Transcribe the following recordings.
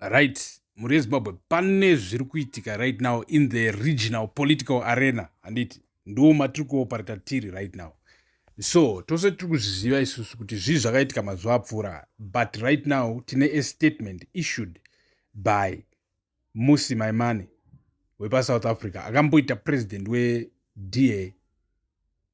right mhuri yezimbabwe pane zviri kuitika right now in the regional political arena handiti ndiwo matiri kuopareta tiri right now so tose tiri kuzviziva isusu kuti zvii zvakaitika mazuva apfuura but right now tine a statement issued by musi maimani wepasouth africa akamboita president weda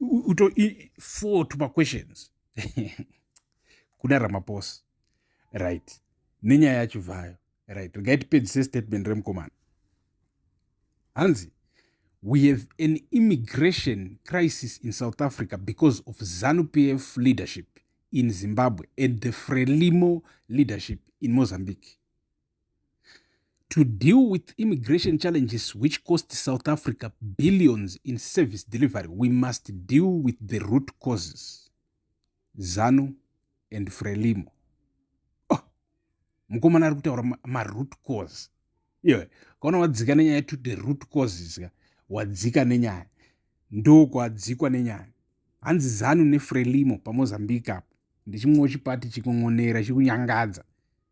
uto four to maquestions kuna ramaposa right nenyaya yacho vayo right regai tipedzise statement remukomana hanzi we have an immigration crisis in south africa because of zanu p f leadership in zimbabwe and the frelimo leadership in mozambique to deal with immigration challenges which cost south africa billions in service delivery we must deal with the root causes zanu and frelimo oh, mukomana ari kutaura maroot cause iwe kaona wadzika nenyaya to the root causes ka wadzika nenyaya ndokwadzikwa nenyaya hanzi zanu nefrelimo pamozambique apo ndichimwewo chipati chikungonera chikunyangadza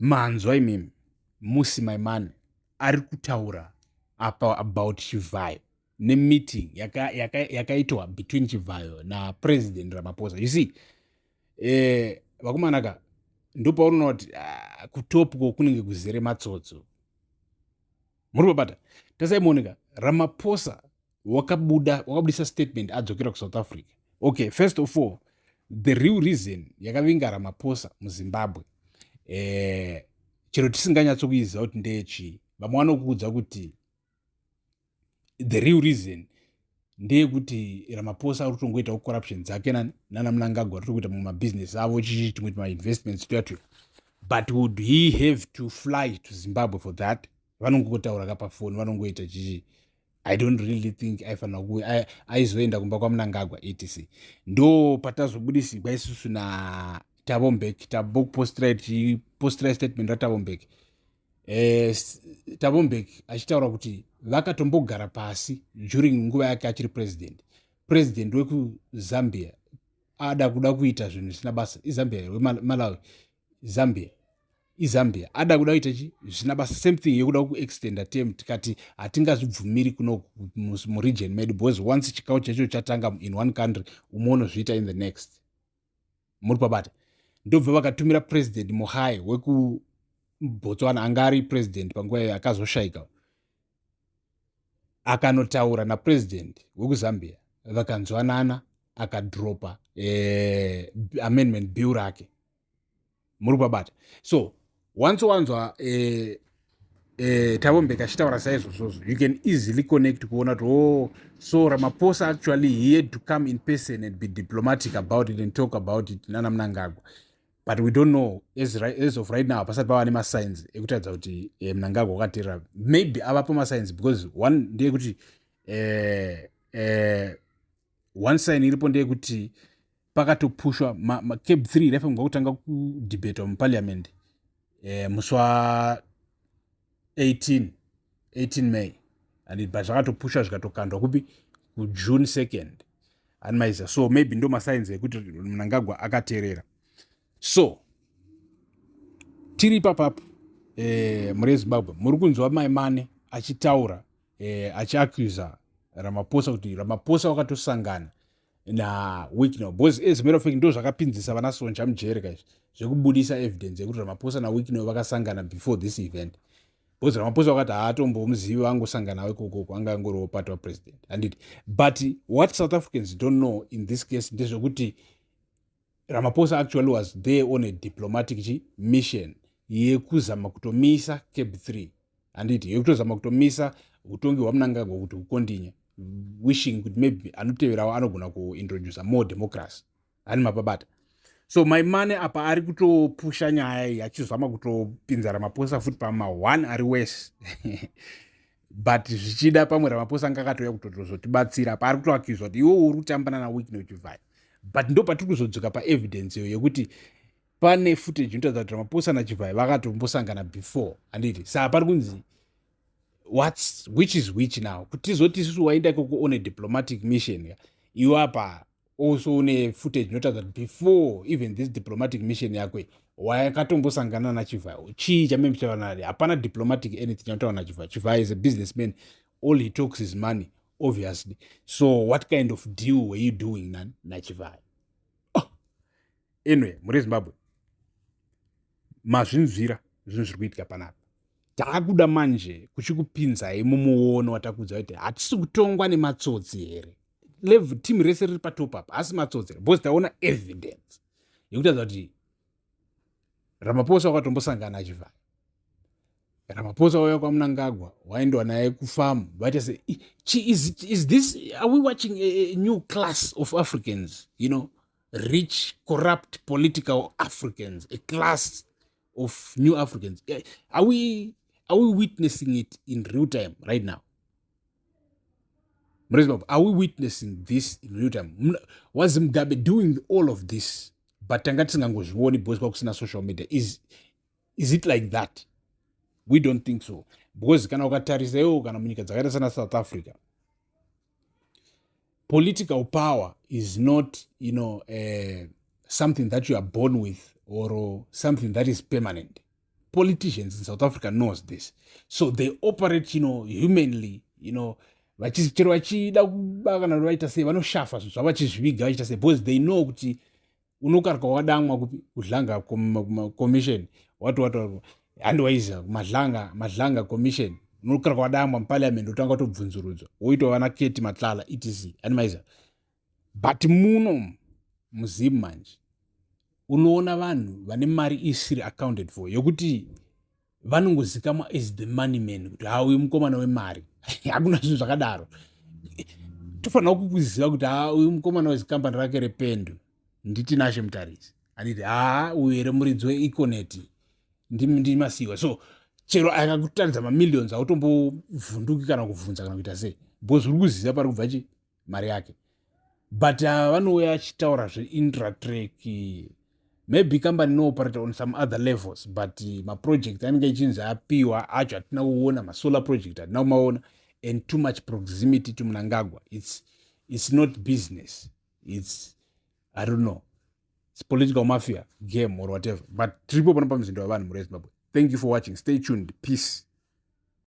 Manzwa imimi musi my man ari kutaura apa about chivhayo nemeeting yakaitwa yaka, yaka between chivhayo napresident ramaphosa you see eh, vakomana ka ndopaunoona kuti uh, ah, kutopko kunenge kuzere matsotso muri babata tasaimuoneka ramaphosa wakabuda wakabudisa statement adzokera kusouth africa okay first of all the real reason yakavinga ramaposa muzimbabwe eh, chero tisinganyatsokuiziva kuti ndeyechii vamwe vanokuudza kuti the real reason ndeyekuti ramaposa ari kutongoitawo corruption dzake nani nana munangagwa ari tokuita mumwe mabhizinesi avo chichii timwe timainvestments tuyatuya but would he have to fly to zimbabwe for that vanongotaura ka pafoni vanongoita chichii i don't really think aifanira kuuya aizoenda kumba kwamunangagwa etc ndo patazobudisigwa isusu natavombek tabokupostira tichipostira statement ratavombek eh, tavombek achitaura kuti vakatombogara pasi during nguva yake achiri president president wekuzambia ada kuda kuita zvinhu zvisina basa izambia here wemalawi zambia izambia ada kuda kuita chi zvina basa same thing yekuda kuextenda tem tikati hatingazvibvumiri kuno muregion medu because once chikau chacho chatanga in one country umwe unozviita in the next muri pabata ndobva vakatumira president muhai wekubotswana anga ari president panguva yayo akazoshaika akanotaura napresident wekuzambia vakanzwanana akadropa eh, amendment bill rake muri kubabata so once wanzwa eh, eh, tavombeka achitaura saizvozvozvo you can easily connect kuona kuti oh so ramaposa actually he had to come in person and be diplomatic about it and talk about it nana munangagwa but we don't know as, right, as of right now hapasati pava nemasigns ekutaridza kuti eh, munangagwa wakaterera maybe avapo masigns because one ndeyekuti eh, eh, one sign iripo ndeyekuti pakatopushwa macab three raifanirwa kutanga kudebatwa muparliament eh, musi wa 18 18 may and but zvakatopushwa zvikatokandwa kupi kujune 2nd anmaiza so maybe ndo masainzi ekuti mnangagwa akaterera so tiri ipapapo eh, muri ezimbabwe muri kunzwa maimane achitaura eh, achiacusa ramaposa kuti ramaposa wakatosangana na wicknel because as matter of fact ndo zvakapinzisa vana sonja mujeri ka izvi zvekubudisa evidence yekuti ramaphosa nawicknel vakasangana before this event because ramaphosa vakati haatombomuzivi vangosangana nawo ikokoko anga angoriwo part wapresident handiti but what south africans don't know in this case ndezvekuti Ramaphosa actually was there on a diplomatic chi mission yekuzama kutomisa cab 3 handiti yekutozama kutomisa utongi hwamunangagwa kuti hukondinya wishing kuti maybe anoteverawo anogona kuintroducer more democracy ani mapabata so my money apa ari kutopusha nyaya iyi achizama kutopinza ramaphosa futi pama one ari wese but zvichida pamwe ramaphosa anga akatouya kutotozotibatsira paari kutoakiuzwa kuti iwe uri kutambana naweekne uchivhaya but ndo patiri kuzodzoka paevidence iyo yekuti pane footage inotaridza kuti ramaphosa nachivhaya vakatombosangana before handiti saa pari kunzi whats which is which now kuti tizoti isusu waenda ikoko on a diplomatic mission iwe apa also une footage inotaridza kuti before even this diplomatic mission yako wayakatombosangana nachivhayo chii chameme chava nari hapana diplomatic anything chanotaura nachivhayo chivhayo is a business man all he talks is money obviously so what kind of deal were you doing nani nachivhayo anyway muri zimbabwe mazvinzwira zvinhu zviri kuitika panapa taakuda manje kuchikupinzai mumuono watakuudza kuti hatisi kutongwa nematsotsi here level team rese riri patop apa asi matsotsi here because taona evidence yekutaza kuti ramaposa wakatombosangana achivhaya ramaposa wauya kwamunangagwa waindowa naye kufamu vaita se is, is this are we watching a, a new class of africans you know rich corrupt political africans a class of new africans eh, are we, are we witnessing it in real time right now mrezibab are we witnessing this in real time was mugabe doing all of this but tanga tisingangozvioni because kwakusina social media is, is it like that we don't think so because kana ukatarisa iwo kana munyika dzakaita sana south africa political power is not you know, uh, something that you are born with or something that is permanent politicians in south africa knows this so they operate you know, humanly you know, chero vachida kuba kana kuti vaita sei vanoshafa zvinhu zvavo vachizviviga vachiita sei because they know kuti unokarwa wadamwa kupi kudlanga commission wati wataurwa handi waiziva madlanga madlanga commission unokarwa wadamwa muparliament otanga tobvunzurudzwa woitwa vana keti matlala etc handi maiziva but muno muzim manje unoona vanhu vane mari isiri accounted for yokuti vanongozikamwa as the money man kuti ha uyu mukomana wemari hakuna zvinhu zvakadaro tofanira kukuziva kuti ha uyu mukomana wezikambani rake rependu nditi nashe mutarisi anditi haa uyu here muridzi weeconeti ndimasiwa so chero akakutaridza mamillions autombovhunduki kana kubvunza kana kuita sei bcause uri kuziva pari kubva chii mari yake but ava vanouya achitaura zveintratrack maybe kambani inooperate on some other levels but maproject anenge ichinzi apiwa acho hatina kuona masolar project hatina kumaona and too much proximity to munangagwa its, its not business its i don't know its political mafia game or whatever but tiripo pano pamuzinda wevanhu mhuri yezimbabwe thank you for watching stay tuned peace